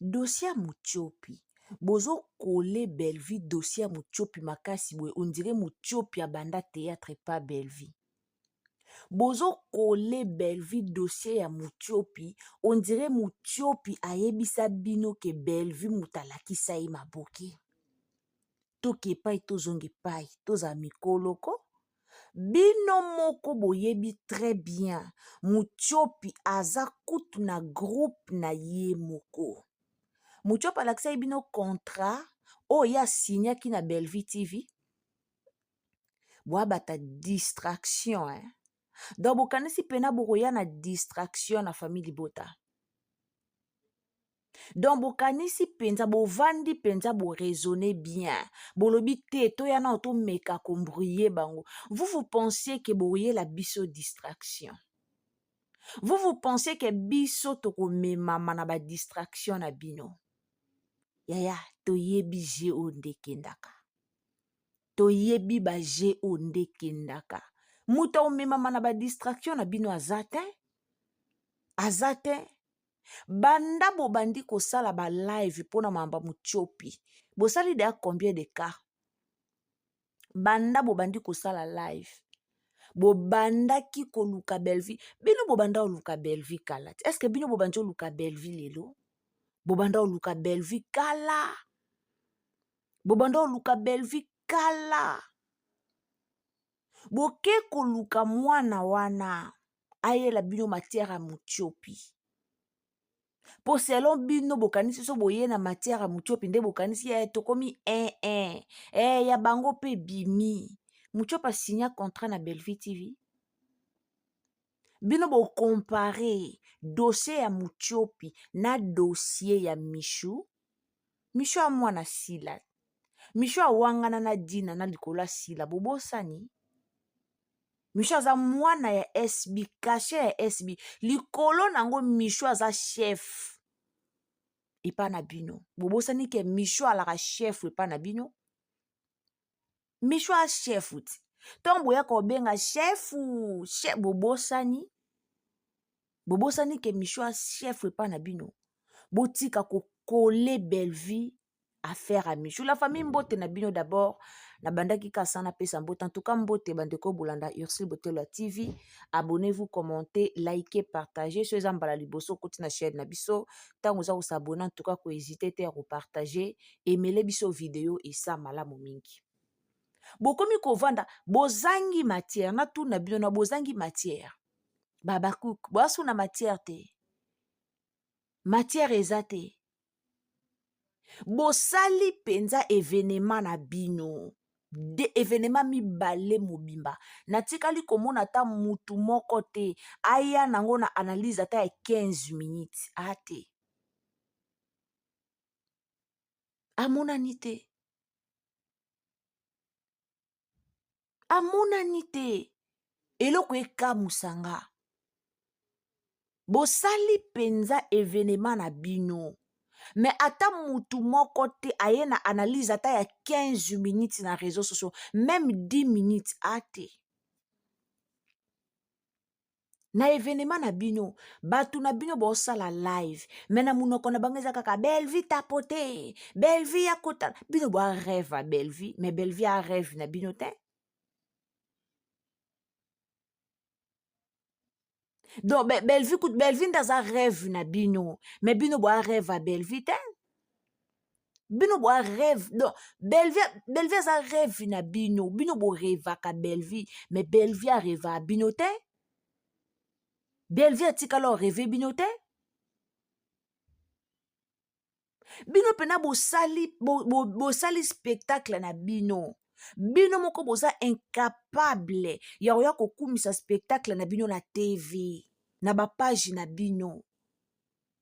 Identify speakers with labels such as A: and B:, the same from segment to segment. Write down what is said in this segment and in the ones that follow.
A: Dossier ya Mutiopi. Bozo coller Bellevue dossier ya Mutiopi makasi boye on dirait Mutiopi abanda theatre et pas Bellevue. Bozo coller Bellevue dossier ya Mutiopi on dirait Mutiopi ayebisa bino ke Bellevue mutu alakisa ye maboke. Toke epai tozonga epai tozala mikolo ko. Bino moko boyebi très bien Mutshiopi aza kutu na groupe na ye moko. Mutshiopi alakisaki bino contrat oyo ye asignaki na Bellevue TV? Boabata distraction hein. Donc bokanisi pena bokoya na distraction na famille libota. donc bokanisi mpenza bovandi mpenza boraisonne bien bolobi te toya nao tomeka kombruye bango vous vous pensiez ke boyela biso distraction vous vous pensiez ke biso tokomemama na badistraction na bino yaya toyebi je oyo nde ekendaka toyebi baje oyo nde ekendaka moto aomemama na badistraction na bino aza te aza te banda bobandi kosala ba live mpo na mamba mutiopi bosali deya combien de cas banda bobandi kosala live bobandaki koluka belvi bino bobanda oluka belvi kala te estce bino bobandi oluka belvi lelo bobanda oluka belvi kala bobanda oluka belvi kala boke koluka mwana wana ayela bino matière ya mutiopi mpo selon bino bokanisi so boye na matière ya mutiopi nde bokanisi ye tokomi ee eh, eh. ee eh, ya bango mpe bimi mutiopi asinya contrat na bellevue tv bino bokompare dossier ya mutiopi na dossier ya michou michou ya mwana sila michou awangana na dina na likolo ya sila bobosani michou aza mwana ya sb kashe ya sb likolo na yango michou aza chef epa na bino bobosani ke michou alaka chef epa na bino michou a chef ti ntongo boya kobenga chefu chef bobosani bobosani ke michou a chef epa na bino botika kokole bellevue affaire à Michou. La famille Mbote na bino d'abord. Na bandaki kasa na pesa Mbote. En tout cas Mbote bandeko bolanda Ursule Botelwa TV. Abonnez-vous, commentez, likez, partagez. Ceux en bala liboso koti na chaîne na biso. Tango za s'abonner en tout cas ko hésiter te ko partager et mêler biso vidéo et ça malamu mingi. Bokomi kovanda bozangi matière na tuna bino na bozangi matière. Babakuk, boasu na matière te. matière eza te bosali mpenza evenema na bino de evenema mibale mobimba natikali komona ata mutu moko te aya nango na analyse ata ya 15 minutes a te amonani te amonani te eloko ekamusa nga bosali mpenza evenema na bino me ata mutu moko te aye na analyse ata ya 15 minutes na réseau sociaux meme 10 minutes ate na evenema na bino bato na bino bosala live me na monoko na bango eza kaka belvi tapote belvi akota bino boa reve ya belvi me belvi a reve na bino te donc be, belvi belvi nde aza reve na bino me bino boa reve ya belvi te bino boa rêve donc bellevie bellevie aza rêve na bino bino borevaka bellevie mais bellevie areva bino te bellevie atikala oreve bino te bino mpena bosali bo, bo, bo spectacle na bino bino moko boza incapable ya koya kokumisa spectacle na bino na tv na bapage na bino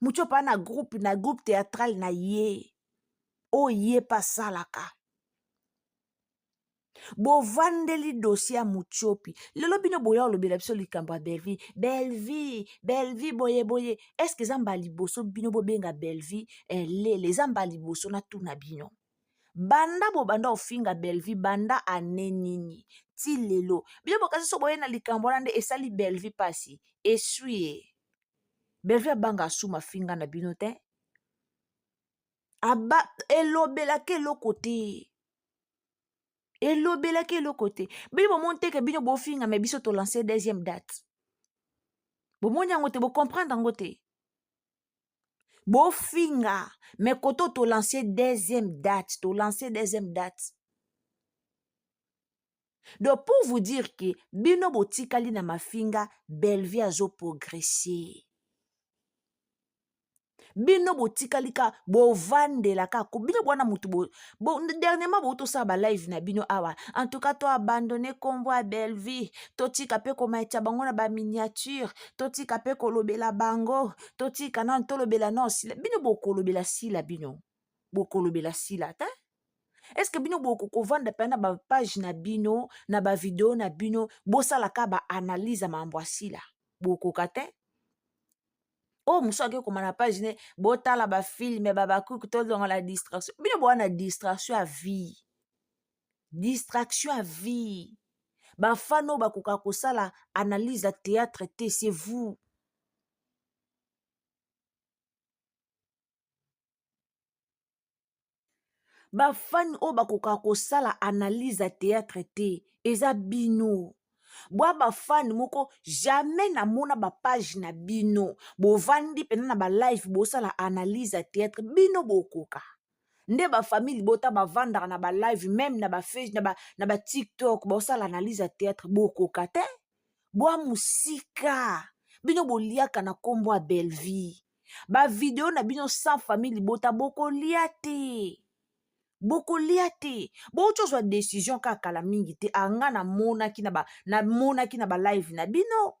A: mucho pa na groupe na groupe théâtral na ye oyo ye mpe asalaka bovandeli dosie ya mutiopi lelo bino boya olobela biso likambo ya belvie belvie belvie boye boye estce eza mbala liboso bino bobenga belvie elele eh, eza mbala liboso natuna bino banda bobanda ofinga belvie banda ane nini ti lelo bino bokasi so boye na likambo wana nde esali belvie mpasi esui ye Bellevue abanga asuma finga na bino te aba elobelaka eloko te elobelaka eloko te bino bomoni teke bino bofinga me biso tolance deuxième date bomoni yango te bocomprendre yango te bofinga me koto tolance deuxième date tolance deuxième date donc pour vous dire ke bino botikali na mafinga bellevie azo progresser bino botikali ka bovandela kako bino bwana motu bo, bo, dernièrement boutosala balive na bino awa en tout cas toabandonne nkombo ya bellevie totika mpe komaitya bango na baminiature totika mpe kolobela bango totika nano tolobela nao sila bino bokolobela sila bino bokolobela sila te eske bino bokokovanda mpe na bapage na bino na bavideo na bino bosalaka baanalyse ya mambo asila bokoka te oyo oh, mosusu ake koma na page ne botala bafilme babakuku tozonga na distraction bino boa na distraction ya vie distraction ya vie bafano bakoka kosala analyse ya théâtre te c'est vous bafani oyo bakokaka kosala analyse ya théâtre te eza bino bwa bafani moko jamais namona bapage na bino bovandi mpena na balive bosala analyse ya théâtre bino bokoka nde bafamille libota bavandaka na balive meme na bafage na, ba, na batiktok bosala analyse ya théâtre bokoka te bwa mosika bino boliaka na nkombo ya bellevie ba video na bino sans famille libota bokolia te bokolia te bouti ozwa decision kaka kala mingi te anga namonaki namonaki na balive na bino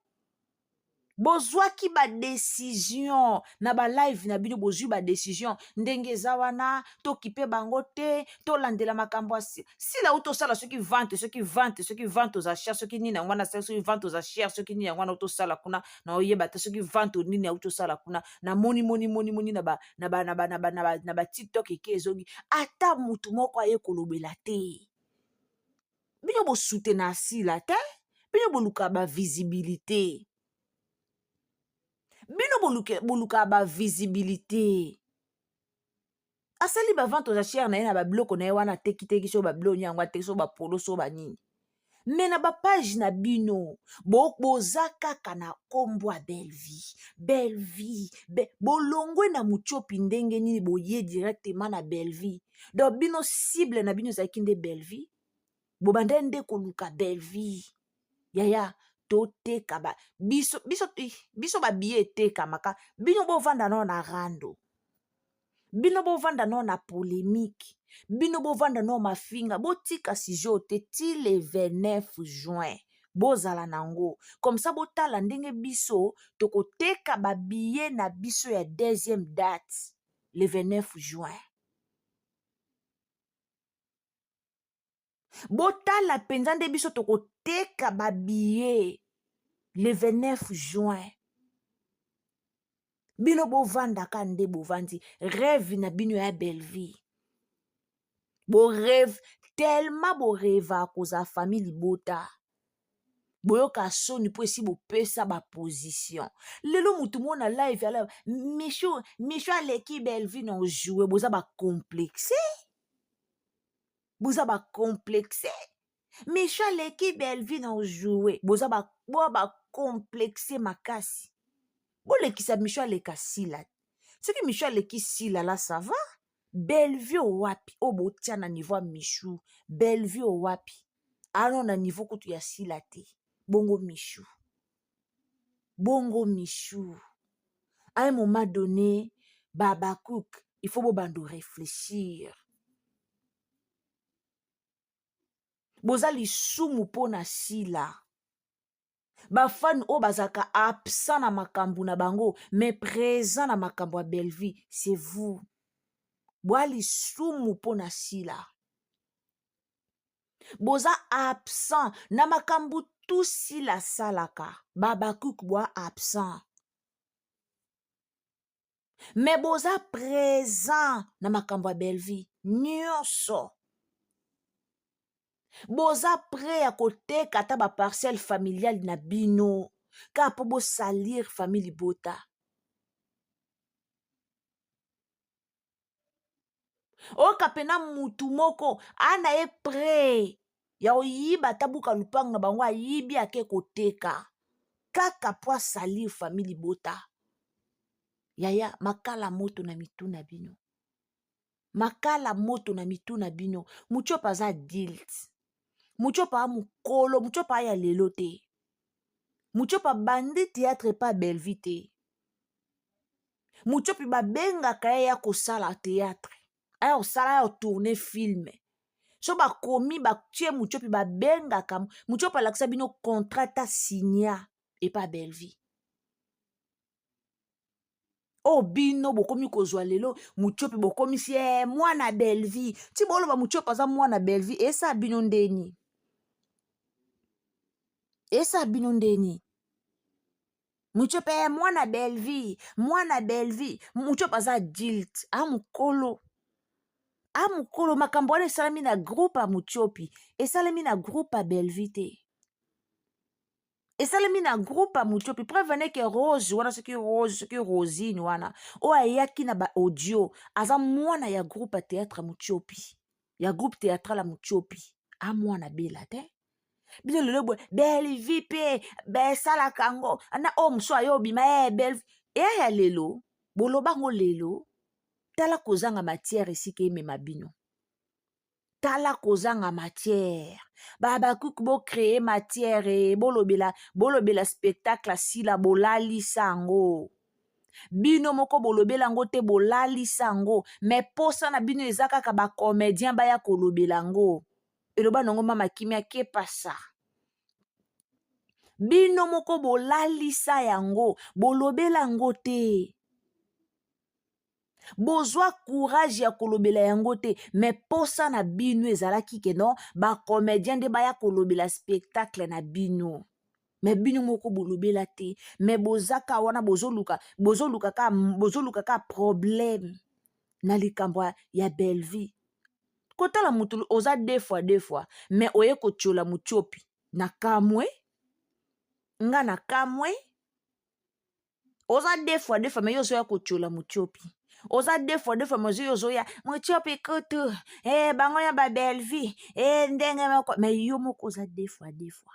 A: bozwaki badecision na balive na bino bozwi badecision ndenge eza wana tokipe bango te tolandela makambo ya sila uti osala soki vante soki vante soki vante oza cher soki nini yango wana asali soki vante oza cher soki nini yango wana uti osala kuna na oyeba te soki vente nini auti osala kuna na moni moni moni moni na ba na ba na ba na ba na ba na ba tiktok eke ezongi ata mutu moko aye kolobela te bino bosute na asila te bino boluka ba visibilité bino boluka ba visibilité asali bavente aux achères na ye na babiloko na ye wana atekiteki so babiloko nini yango ateki so bapolo so banini me na bapage na bino bo, boza kaka na nkombo ya bellevie bellevie be, bolongwe na mutiopi ndenge nini boye directement na bellevie donc bino cible na bino ezalaki nde bellevie bobandai nde koluka bellevie yaya toteka ba biso biso biso babiye etekamaka bino bovanda nao na rando bino bovanda nao na polemike bino bovanda nao mafinga botika sujet oyo te ti le 29 juin bozala na yango komsa botala ndenge biso tokoteka babiye na biso ya deuxième date le 29 juin botala mpenza nde biso tokoteka babiye le 29 juin bino bovandaka nde bovandi rêve na bino ya bellevie boreve tellement boreva kozala famille libota boyoka soni mpo esi bopesa baposition lelo motu moko na live ya live michou michou aleki bellevue na ojoue boza bacomplexe boza ba complexe micho aleki bellevue na ojoue boza ba boa ba complexe makasi bolekisa micho aleka sila soki micho aleki sila la ça va bellevue owapi oyo botia na niveau ya michu bellevue owapi ano na niveau kutu ya sila te bongo michu bongo michou à un moment donné babacook il faut bobanda réfléchir boza lisumu mpo na sila bafani oyo bazalaka absent na makambo na bango mais présent na makambo ya bellevie c'est vous bwa lisumu mpo na sila boza absent na makambo tout sila asalaka babakuk bwa absent me boza présent na makambo ya bellevie nyonso boza pre ya koteka ata baparcelle familiale na bino kaka mpo bosalir famille libota oyoka mpena mutu moko ana ye pre ya koyiba ata buka lupango na bango ayibi ake koteka kaka mpo asalir famille libota yaya makala moto na mitu na bino makala moto na mitu na bino mucopa aza adilt mucopa a mokolo mucopa aya lelo te mucopa bandi théâtre epa bellevue te mutiopi babengaka ye ya kosala théâtre aya kosala ya tourne filme so bakomi batie mutiopi babengaka mutiopi alakisa bino contrat ta signa epa bellevie oyo oh, bino bokomi kozwa lelo mutiopi bokomisi e mwana bellevie ti boloba mutiopi aza mwana bellevie esa bino ndeni esa bino ndeni mucope eh, mwana belvie mwana belvie mucope aza adulte a mokolo a mokolo makambo wana esalami na groupe ya mucopi esalami na groupe ya belvie te esalemi na groupe ya mucopi preuve neke rose wana soki rose soki rosine wana oyo ayaki na baaudio aza mwana ya groupe ya théâtre ya mucopi ya groupe théâtral ya mucopi amwana bela te bino lelo boye belvi mpe besalaka yango na oyo mosusu ayo obima e eh, belvi eya ya lelo boloba yango lelo tala kozanga matière esika emema bino tala kozanga matière babakuki bocreye matière e eh, bolobela bolobela spectacle asila bolalisa yango bino moko bolobela yango te bolalisa yango me mposa na bino eza kaka bacomédien baya kolobela yango eloba nango mama kimia kepasa bino moko bolalisa yango bolobela yango te bozwa courage ya kolobela yango te me mposa na bino ezalaki ke non bacomédien nde baya kolobela spectacle na bino me bino moko bolobela te me bozaka wana bozoluka bozoluka ka bozoluka ka problème na likambo ya bellevie kotala mutu oza deux fois deux fois mais oye kotiola mutiopi na kamwe nga na kamwe oza deux fois deux fois mais yo ozoya kotiola mutiopi oza deux fois deux fois mais ozoya ozoya mutiopi kutu e eh, bango ya ba bellevue e eh, ndenge moko mais yo moko oza deux fois deux fois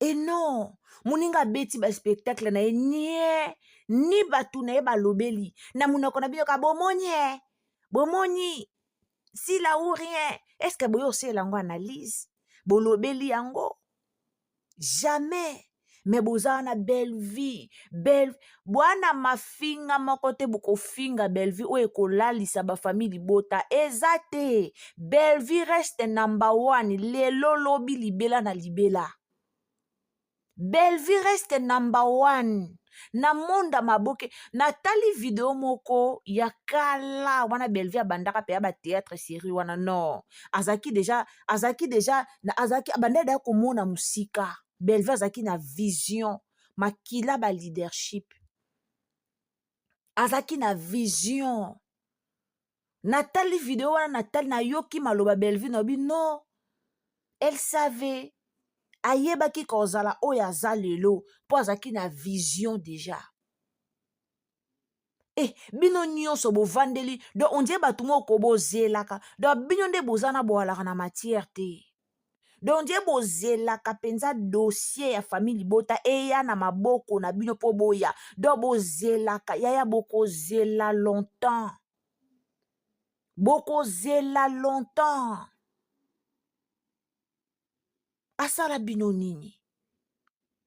A: e non moninga abeti baspectacle na ye nie ni bato na ye balobeli na monoko na bino ka bomoni e bomoni sila ou rien est ce que boye osela yango analyse bolobeli yango jamais me boza wana belle vie belle bwana mafinga moko te bokofinga bellevue oyo ekolalisa bafamille libota eza te bellevue reste number one lelo lobi libela na libela bellevue reste number one na monda maboke natali video moko ya kala wana bellevue abandaka mpe ya bateatre serie wana non azalaki deja azalaki deja azalaki abandaki deja komona mosika bellevue azalaki na vision makila ba leadership azalaki na vision natali video wana natali nayoki maloba bellevue nayobi no elle savait ayebaki kozala oyo aza lelo mpo azalaki na vision deja Eh, bino nyonso bovandeli donc ondie bato moko bozelaka donc bino nde boza na boalaka na matière te donc ondie bozelaka mpenza dossier ya famille libota eya na maboko na bino mpo boya donc bozelaka yaya bokozela longtemps bokozela longtemps asala bino nini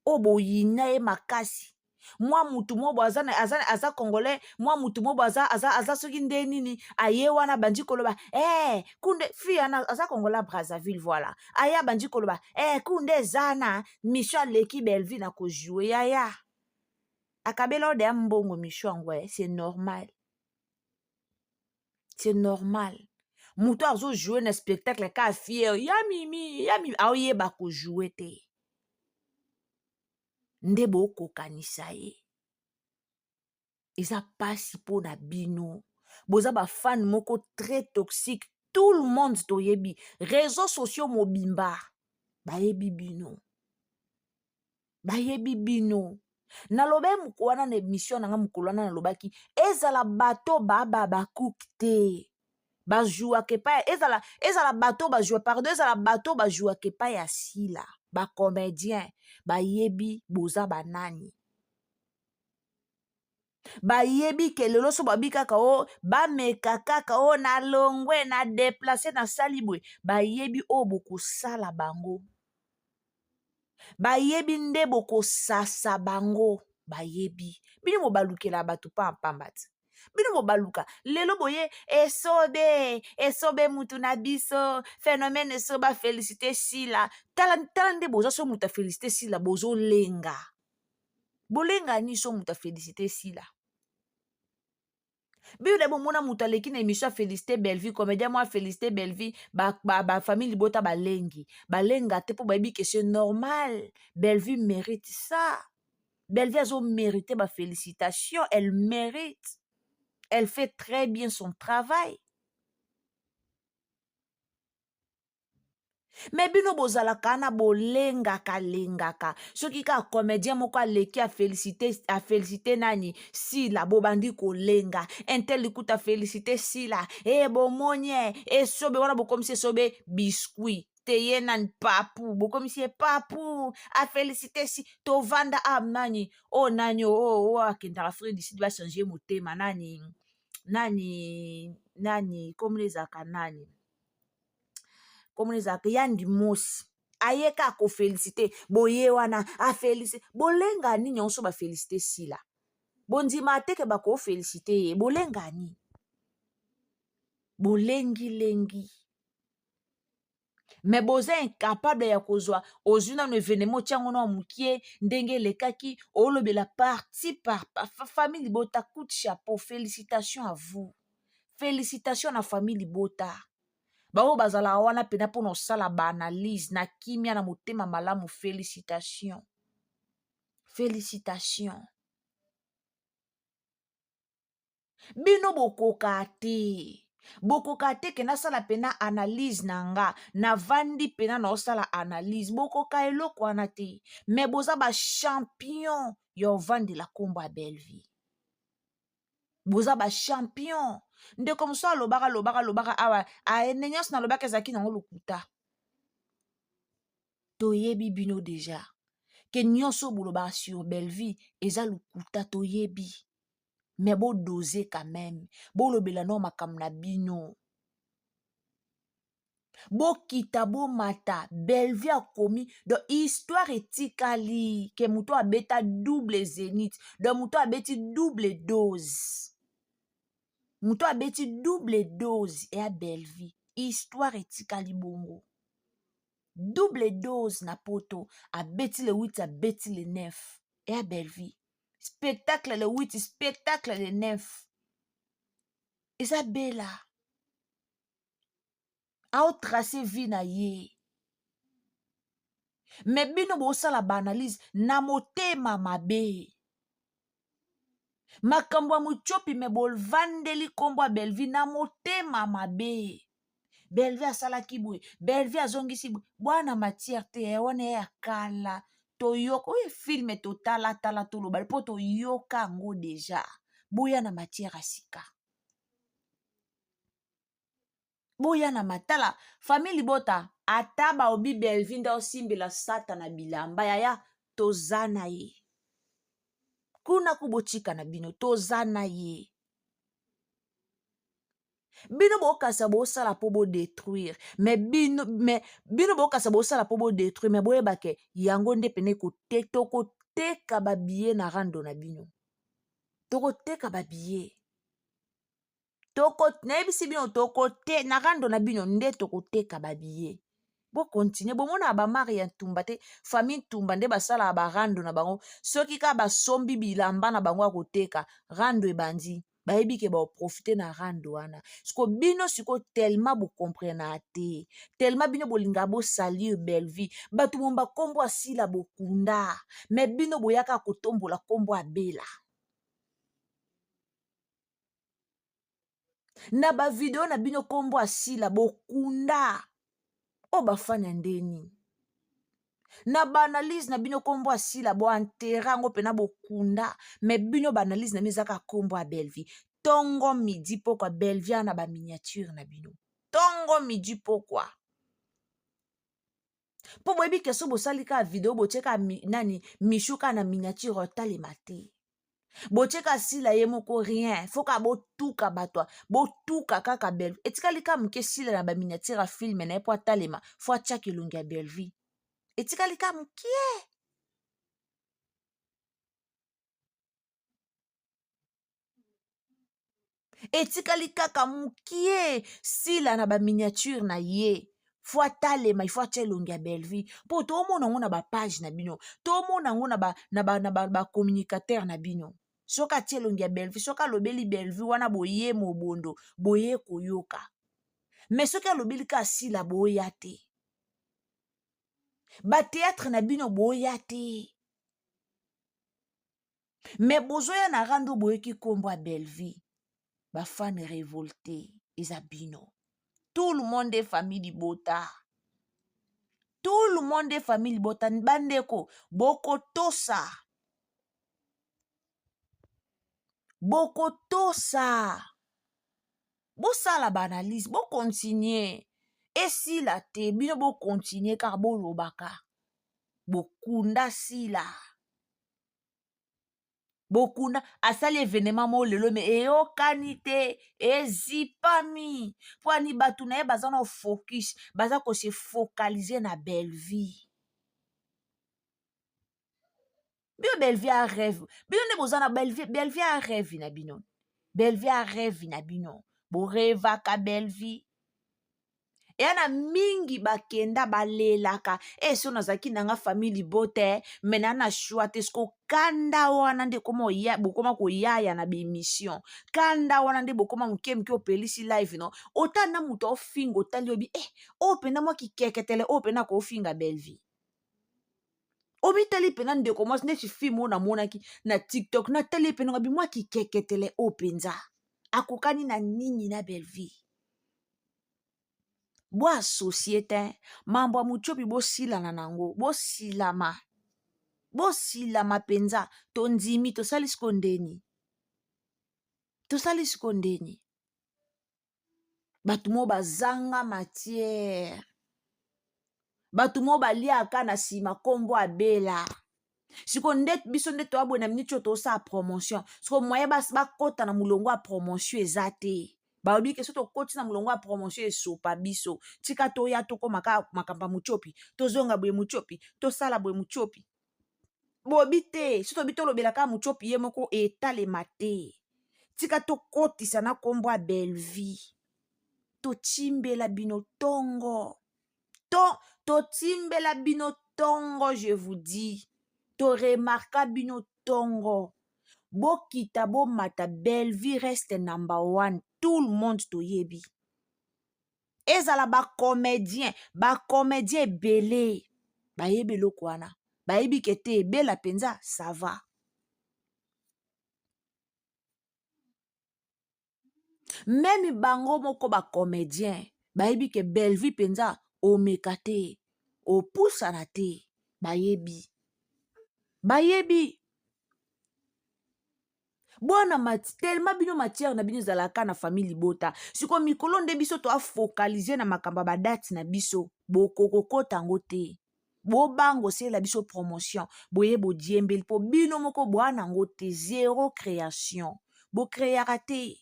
A: oyo boyina ye makasi mwa mutu mobo aza, aza, aza congolais mwa mutu mobo aza, aza, aza soki nde nini aye wana bandi koloba hey, eh, kunde fi ana aza congolais brazzaville voilà aya bandi koloba hey, eh, kunde eza na mission aleki bellevue na kojoue yaya akabela ode ya mbongo mission yango eh, c'est normal c'est normal moto azojoue na spectacle ka fiere ya mimi ya mimi aoyeba kojoue te nde bokokanisa ye eza mpasi mpo na bino boza bafane moko très toxique tout le monde toyebi réseau sociaux mobimba bayebi bino bayebi bino naloba wana na emission na nga mokolo wana nalobaki ezala bato baba bakuk te bajuaka epai ezala ezala bato bajua pardon ezala bato bajuaka epai ya sila bacomédien bayebi boza banani bayebi ke lelo so babi kaka o oh, bameka kaka o oh, na longwe na deplace nasali boye bayebi oyo oh, bokosala bango bayebi nde bokosasa bango bayebi bino bobalukela bato pampamba te bino bobaluka lelo boye esobe esobe mutu na biso phénomène esobe afélicité sila tala tala nde boza so moto afélicité sila bozolenga bolenga niso moto afélicité sila bible na bomona moto aleki na émission afélicité bellevie comédien mwa afélicité bellevie bafamille libota balengi balenga te mpo bayebi ke ce normal bellevie mérite ça bellevie azo mérite bafélicitation elle mérite elle fait très bien son travail me bino bozalaka na bolengaka lengaka soki kaka comédien moko aleki afélicité nani sila bobandi kolenga intel likuta félicité sila e bomoni e esobe wana bokomisi esobe biscuit teye nani papu bokomisi ye papu afélicité si tovanda a ah, nani o oh, nani o oh, o oh, oh, akendaka fred sidi bachange motema nani nani nani komona ezalaka nani komona ezalaka ya ndimosi aye kaka kofelisite boye wana afelisite bolenga nini yango so bafelisite sila bondima te ke bakofelisite ye bolenga nini bolengilengi me boza incapable ya kozwa ozwi nano evenema otya yango nao mokie ndenge elekaki olobela parti par famille libota coute chapeau félicitation à vous félicitation na famille libota baoyo bazalaka wana mpena mpo na osala baanalyse na kimia na motema malamu félicitation félicitation bino bokoka te bokoka te ke nasala mpena analyse na nga navandi mpena na osala analyse bokoka eloko wana te me boza bachampion ya ovandela nkombo ya bellevie boza ba champion ndeko mosusu alobaka lobaka lobaka awa aende nyonso nalobaka ezalaki nango lokuta toyebi bino deja ke nyonso bolobaka sur bellevie eza lokuta toyebi me bodose quand meme bolobela nao makambo na bino bokita bomata bellevue akomi donc histoire etikali ke moto abeta double zenith donc moto abeti double dose moto abeti double dose ya bellevue histoire etikali bongo double dose na poto abeti le 8 abeti le 9 ya bellevue spectacle le 8 spectacle le 9 eza bela ao trace vie na ye me bino bosala baanalyse na motema mabe makambo ya mutiopi me bovandeli nkombo ya belvi na motema mabe belvi asalaki boye belvi azongisi boye bwana matière te ya wana ya kala toyoka oyo filme totalatala toloba mpo toyoka yango deja boya na matière ya sika boya na matala famille libota ata baobi belvi nde osimbela satana bilamba yaya toza na ye kuna ku botika na bino toza na ye bino bokasa bosala mpo bodetruire me bino, me, bino bokasa bosala mpo bodetruire me boyeba ke yango nde pene kote tokoteka babiye na rando na bino tokoteka babiye toko nayebisi bino toko te na rando na bino nde tokoteka babiye bokontinue bomonaka bamari ya ntumba te famille ntumba nde basalaka barando na bango soki kaka basombi bilamba na bango ya koteka rando ebandi bayebi ke baprofite na rando wana siko bino siko telema bokomprenaka te telema bino bolingaka bosalir bellevie bato momo bakombo asila bokunda me bino boyaka kotombola kombo abela na bavideo na bino nkombo asila bokunda oyo bafani ya nde nini na baanalyse na bino nkombo asila boantere yango mpena bokunda me bino baanalyse na bino eza kaka nkombo ya bellevie ntongo midi pokwa bellevie ana baminiature na bino ntongo midi pokwa mpo boyebi ke so bosali kaka video botie kaka mi, nani mishu kaka na miniature otalema te botie kaka sila ye moko rien fo kaka botuka bato botuka kaka belvi etikali kaka moke sila na baminiature ya filme na ye mpo atalema fo atia kilongi ya belvi etikali kaka mokie etikali kaka mokie sila na baminiature na ye fo atalema ifo atya elongi ya bellevue mpo tomona yango na bapage na bino tomona yango na bacommunicateur ba, ba, ba na bino soki atya elongi ya bellevue soki alobeli bellevue wana boye mobondo boye koyoka me soki alobeli kaka sila boya te bateatre na bino boya te me bozoya na rando boyoki nkombo ya bellevie bafane revolte eza bino tout le monde est famille libota tout le monde est famille libota bandeko bokotosa bokotosa bosala baanalyse bokontinue esila te bino bokontinue kaka bolobaka bokunda sila bokuna asali evenema moko lelo me eyokani te ezipami mpo ani bato na ye baza na focus baza kose focalize na bellevie bino bellevie a reve bino nde boza na bellevie bellevie a reve na bino bellevie a reve na bino borevaka bellevie eya na mingi bakenda balelaka e so nazalaki na nga famille libote me na na shwa te siko kanda wana nde bokoma koyaya na baemission kanda wana nde bokoma moke moke opelisi live no otali na moto aofinga otali obi e eh, oyo mpenza mwa kikeketele oyo mpenza akoofinga bellevie omitali mpenza ndeko mwasi neti filme oyo namonaki na tiktok natali ye mpenza ngabi mwa kikeketele oyo mpenza akokani na nini na bellevie bo associe te mambo ya mutiopi bosilana nango bosilama bosilama mpenza tondimi tosali siko ndeni tosali siko ndeni bato moo bazanga matière bato moo baliaka na nsima nkombo abela sikoyo nde biso nde toya boye na miniti oyo tosala promotion sikoyo moye bakota na molongo ya promotion eza te balobi ke so tokoti na molongo ya promotion esopa biso tika toya tokoma kaka makambo ya motiopi tozonga boye motiopi tosala boye motiopi bobi te so tobi tolobela kaka motiopi ye moko etalema te tika tokotisa na nkombo ya belvie totimbela bino ntongo to totimbela bino ntongo je vous dis toremarka bino ntongo bokita bomata bellevue reste number one tout le monde toyebi ezala bacomédien bacomédien ebele bayebi eloko wana bayebi ke te ebela mpenza sava meme bango moko bacomédien bayebi ke bellevue mpenza omeka te opusana te bayebi bayebi bwana telema bino matière na bino ezalaka na famille libota sikoyo mikolo nde biso toafokalize na makambo ya badati na biso bokokokota yango te bobango sela biso promotion boye bodiembeli mpo bino moko bwa nango te zero création bocreaka te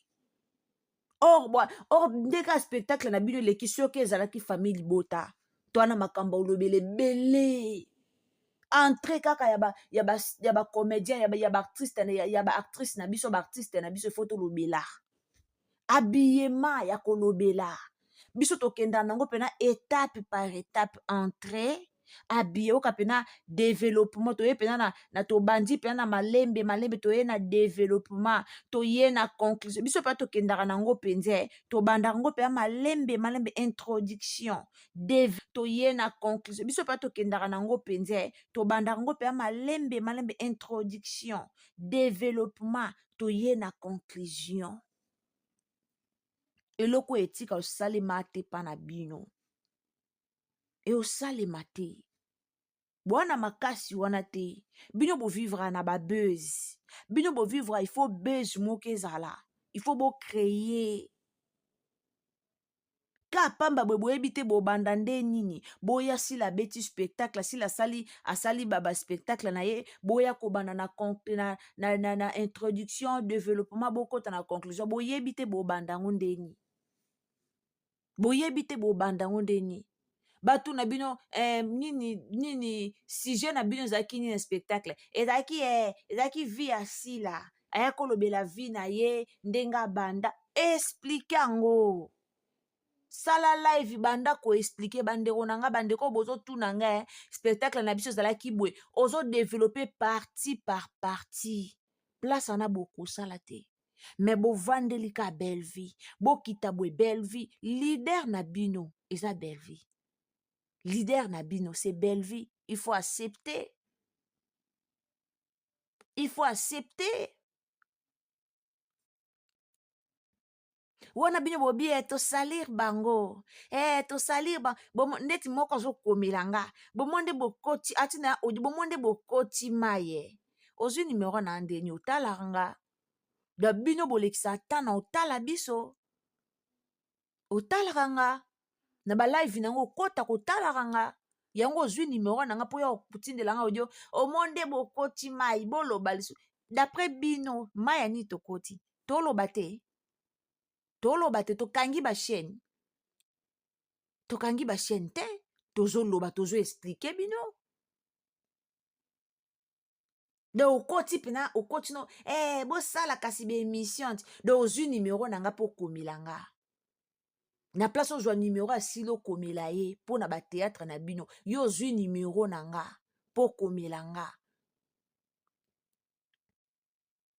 A: or bwa or nde kaka spectacle na bino eleki soki ezalaki famille libota to wana makambo olobela ebele entre kaka ya ba ya ba ya ba comédien ya ba ya ba artiste ya, ya ba actrice na biso ba artiste na biso ifo tolobela habillement ya kolobela biso tokenda nango mpena etape par etape entrée abiye oka mpena developpement toye mpena na, na tobandi mpena na malembe malembe toye na developpement toye na conclusion biso mpena tokendaka nango mpenza eh. tobandaka yango mpena malembe malembe introduction Deve, toye na conclusion biso mpena tokendaka nango mpenza eh. tobandaka yango mpena malembe malembe introduction developpement toye na conclusion eloko oyo etika osalema te mpa na bino eosalema te bwana makasi wana te bino bovivra na babuse bino bovivra il faut buse moko ezala il faut bocreye ka pamba boye boyebi te bobanda nde nini boya sila abeti spectacle sila asali asali baspectacle na ye boya kobanda na, na, na, na, na introduction développement bokota na conclusion boyebi te bobanda yango nde nini boyebi te bobanda yango nde nini batuna bino eh, nini nini sujet na bino ezalaki nini na spectacle ezalaki eh, ezalaki vie ya sila aya kolobela vie na ye ndenge abanda esplike yango sala live banda koexplike bandeko na ngai bandeko oyo bozotuna ngai eh, spectacle na biso ezalaki boye ozodevelope parti par parti place wana bokosala te me bovandeli ka belvi bokita bwe belvi lider na bino eza belvi lider na bino se belvi il faut accepte il faut accepte wana bino bobi e tosalir bango e tosalir ba bomo ndeti moko azokomela nga bomo nde bokoti ati na audio bomo nde bokoti maye ozwi numero na ndeni otalaka nga da bino bolekisa ata na otala biso otalaka nga na balive na yango okota kotalaka nga yango ozwi nimero na nga mpo ya kotindela nga odio omonde bokoti mai boloba lisu dapres bino mai ya nini tokoti toloba te toloba te tokangi bachaine tokangi bachaine te tozoloba tozo esplike bino de okoti mpena okoti no ee eh, bosala kasi baémission ti de ozwi nimero na nga mpo okomela nga na place ozwa nimero ya sili okomela ye mpo na bateatre na bino yo ozwi nimero na nga mpo okomela nga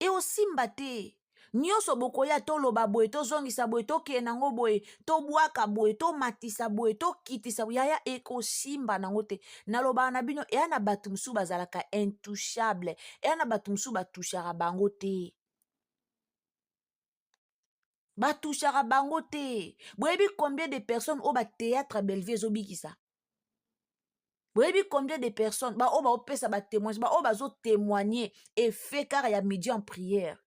A: eosimba te nyonso bokoya toloba boye tozongisa boye tokende nango boye tobwaka boye tomatisa boye tokitisa yaya ekosimba nango te nalobaka na bino eya na bato mosusu bazalaka intouchable eya na bato mosusu batouchaka bango te batushaka bango te boyebi combien de personnes oyo bateatre ya bellevue ezobikisa boyebi combien de personnes baoyo baopesa batémoignage baoyo bazotémoigne efe kaka ya midi en prière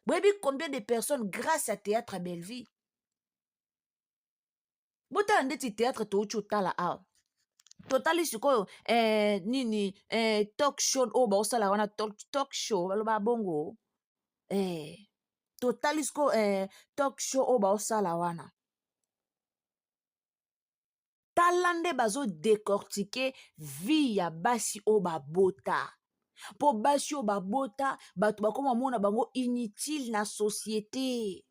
A: boyebi combien de personnes grâce ya théâtre ya bellevue botala ndeti teatre touti otala awa totali sikoyo eh, nini eh, talk show oyo baosala wana talk, talk show baloba bongo eh, totali sikoyo eh, talk show oyo baosala wana tala nde bazodecortike vie ya basi oyo babota mpo basi oyo babota bato bakoma mona bango inutile na societe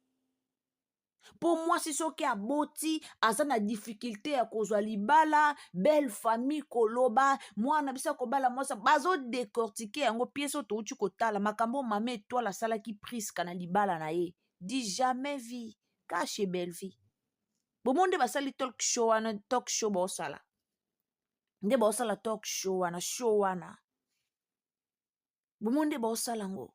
A: mpo mwasi soki aboti aza na difikilte ya kozwa libala belle famille koloba mwana biso akobala mwasi bazodecortike yango piese oyo touti kotala makambo oyo mama etoile asalaki priska na libala na ye di jamais vie kashe bellevie bomo nde basali talk show wana talk show baosala nde baosala talk show wana show wana bomo nde baosala yango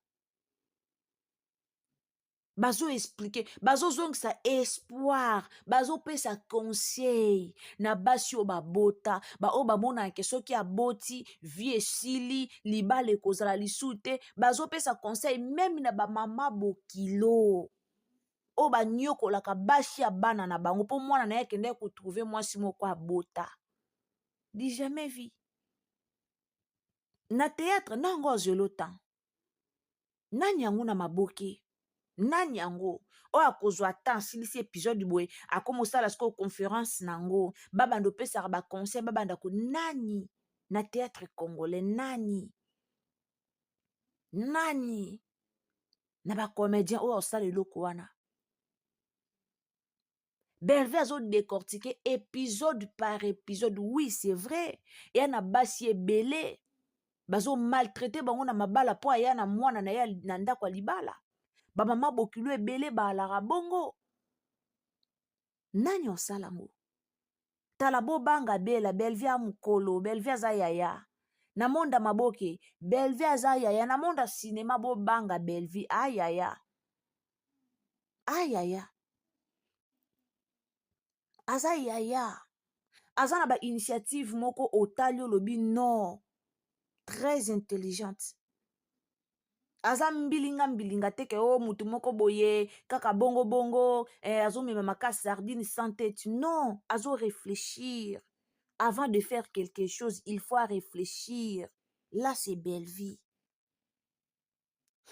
A: bazo explike bazozongisa espoir bazopesa conseil na basi oyo babota baoyo bamonaka soki aboti vie esili libala ekozala lisusu te bazopesa conseil meme na bamama bokilo oyo banyokolaka basi ya bana na bango mpo mwana na ye akendaki kotrouve mwasi moko abota di jamais vie na théâtre na yango azwelo temps nani yango na maboke nani yango oyo akozwa temps asilisi episode boye akoma osala sikoyo conference na yango babanda opesaka baconseil babanda ko nani na théâtre congolais nani nani na bacomédien oyo asala eloko wana berve azo décortique épisode par épisode oui c'est vrai eya na basi ebele bazo maltraite bango na mabala mpo aya na mwana na ye na ndako ya libala bamama bokilo ebele baalaka bongo nani osala yango tala bobanga bela belvi ya mokolo belvi aza yaya na monda maboke belvi aza yaya na monda sinema bobanga belvi ayaya ah, ah yaya aza yaya aza na bainitiative moko otali olobi non très intelligente aza mbilinga mbilinga te ke o oh, motu moko boye kaka bongo bongo eh, azomema makasi sardine sans tete non azo réfléchir avant de faire quelque chose il faut réfléchir là c'est belle vie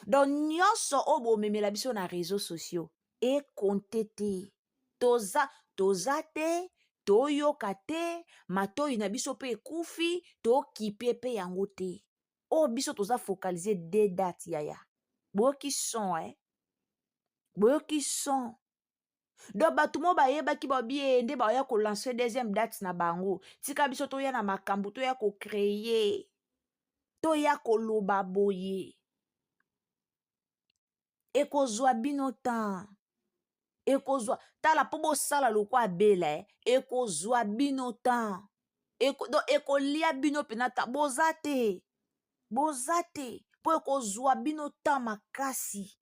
A: donc nyonso oyo bomemela biso na réseau sociaux ekonte te toza toza te toyoka te matoi na biso mpe ekufi tokipe mpe yango te oyo oh, biso toza focalise de date yaya boyoki son eh? boyoki son donc bato mo bayebaki babie nde baoya kolanse deuxième date na bango tika biso toya na makambo toya kocreye toya koloba boye ekozwa bino temps ekozwa tala mpo bosala lokwa abela eh. ekozwa bino temps Eko, donc ekolia bino mpena temps boza te boza te mpo ekozwa bino temps makasi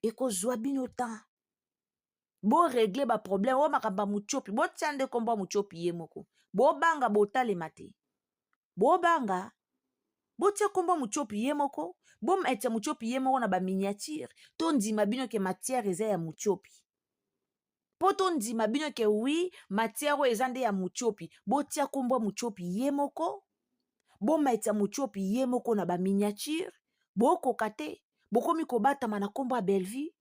A: ekozwa bino temps boregle baproblème oyo makambo ya mutiopi botia nde nkombo ya mutiopi ye moko bobanga botalema te bobanga botia nkombo ya mutiopi ye moko bometia mutiopi ye moko na baminiature tondima bino ke matière eza ya mutiopi mpo tondima bino ke wi matière oyo eza nde ya motiopi botia nkombo ya motiopi ye moko bomaitisa motiopi ye moko na baminiature bokoka te bokomi kobatama na nkombo ya bellevue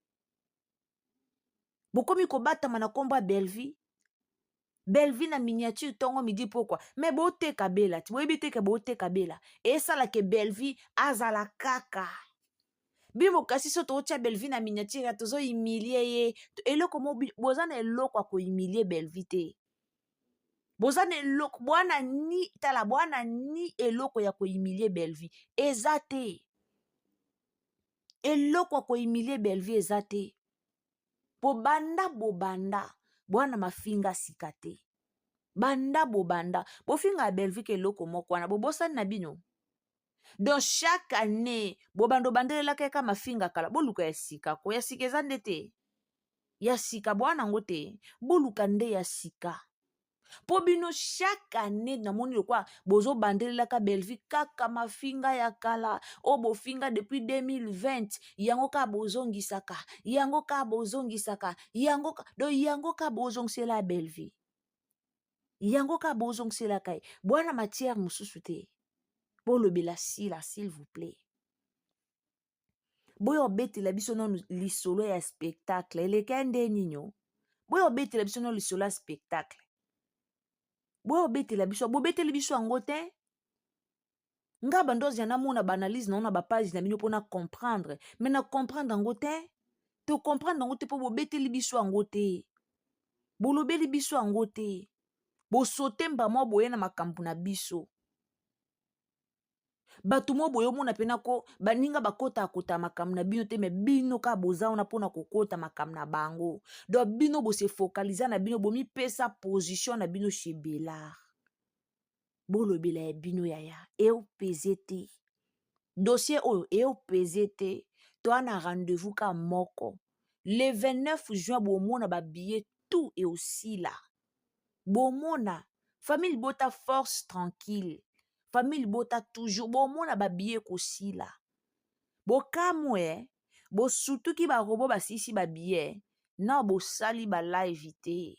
A: bokomi kobatama na nkombo ya bellevue bellevue na miniature ntongo midi pokwa me boteka bela ti boyebi teke boteka bela esalake bellevue azala kaka bimo kasi so tootya belvi na miniature tozo humilie ye eloko mo boza na eloko ya kohumilie belvi te boza na eloko bwana ni tala bwana ni eloko ya kohumilie belvi eza te eloko ya kohumilie belvi eza te bobanda bobanda bwana mafinga sika te banda bobanda bofinga ya belvi ke eloko moko wana bobosani na bino donc chaque année bobanda obandelelaka yaka mafinga kala boluka ya sika ko ya sika eza nde te ya sika bwana yango te boluka nde ya sika mpo bino chaque année namoni lokola bozobandelelaka bellevue kaka mafinga ya kala oyo bofinga depuis 2020 yango kaka bozongisaka yango kaka bozongisaka yango do yango kaka bozongisela bellevue yango kaka bozongiselaka ye bwana matière mosusu te bolobela sila s'il vous plaît boya obetela biso nano lisolo ya spectacle eleka ya nde ninio boya obetela biso nano lisolo ya spectacle boya obetela biso bobeteli biso yango te nga bandozi ya namona baanalyse na yo na bapage na bino mpo na comprendre mai na comprendre yango te tocomprendre yango te mpo bobeteli biso yango te bolobeli biso yango te bosote mbamwa boye na makambo na biso bato mo boye omona mpena ko baninga bakotakota makambo na bino te me bino kaka boza wana mpo na kokota makambo na bango donk bino bose focaliza na bino bomipesa position na bino chez belard bolobela ya bino yaya eopeze te dossier oyo eopeze te toa na rendez-vous ka moko le 29 juin bomona babillet tout eosila bomona famille libota force tranquille famille libota toujours bomona babillet ekosila bokamwe eh? bosutuki barobo basilisi babillet na bosali balive te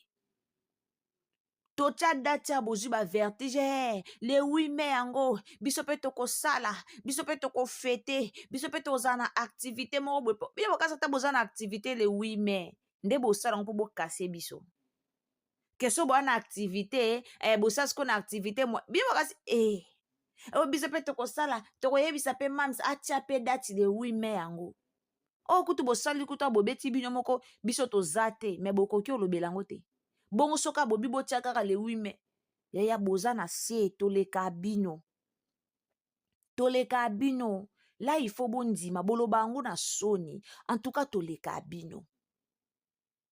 A: totya dati ya bozwi bavertige eh, le 8 mai yango biso mpe tokosala biso mpe tokofete biso mpe tozala na activité moko boye bino bokasa ata boza na activité le 8 mai nde bosala yango mpo bokase biso keso boa na activité eh, bosala siko na activité bino bokasi eh. oyo biso mpe tokosala tokoyebisa mpe mams atya mpe dati le 8 mai yango oyo oh, kutu bosali kutu bobeti bino moko biso toza te me bokoki olobela yango te bongo soki abobi botia kaka le 8 mai yaya boza na se toleka bino toleka bino la ifo bondima boloba yango na soni antuka toleka bino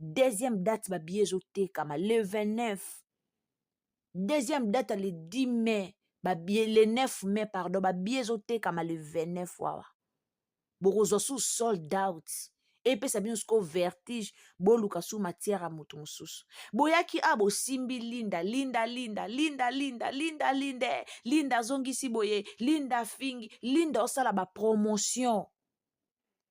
A: deuxième date babiye ezotekama le 29 deuxième date le 10 mai babiye le 9 mai pardon babiye ezotekama le 29 wawa bokozwa su sold out epesa bino sikoyo vertige boluka su matière ya moto mosusu boyaki a ah, bosimbi linda linda linda linda linda linda linda eh, linda azongisi boye linda afingi linda osala bapromotion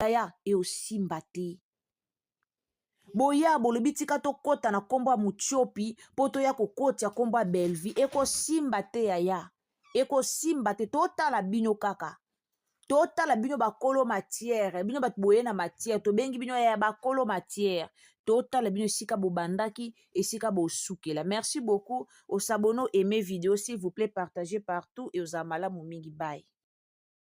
A: yaya eosimba te boya bolobi tika tokɔta na nkombo ya motiopi mpo toya kokotya nkombo ya belvie ekosimba te yaya ekosimba te totala bino kaka totala bino bakolo matière bino bato boye na matière tobengi bino yaya bakolo matière totala bino esika bobandaki esika bosukela merci beaucoup osabone aime video s'il vous plaît partage partout eozala malamu mingi bai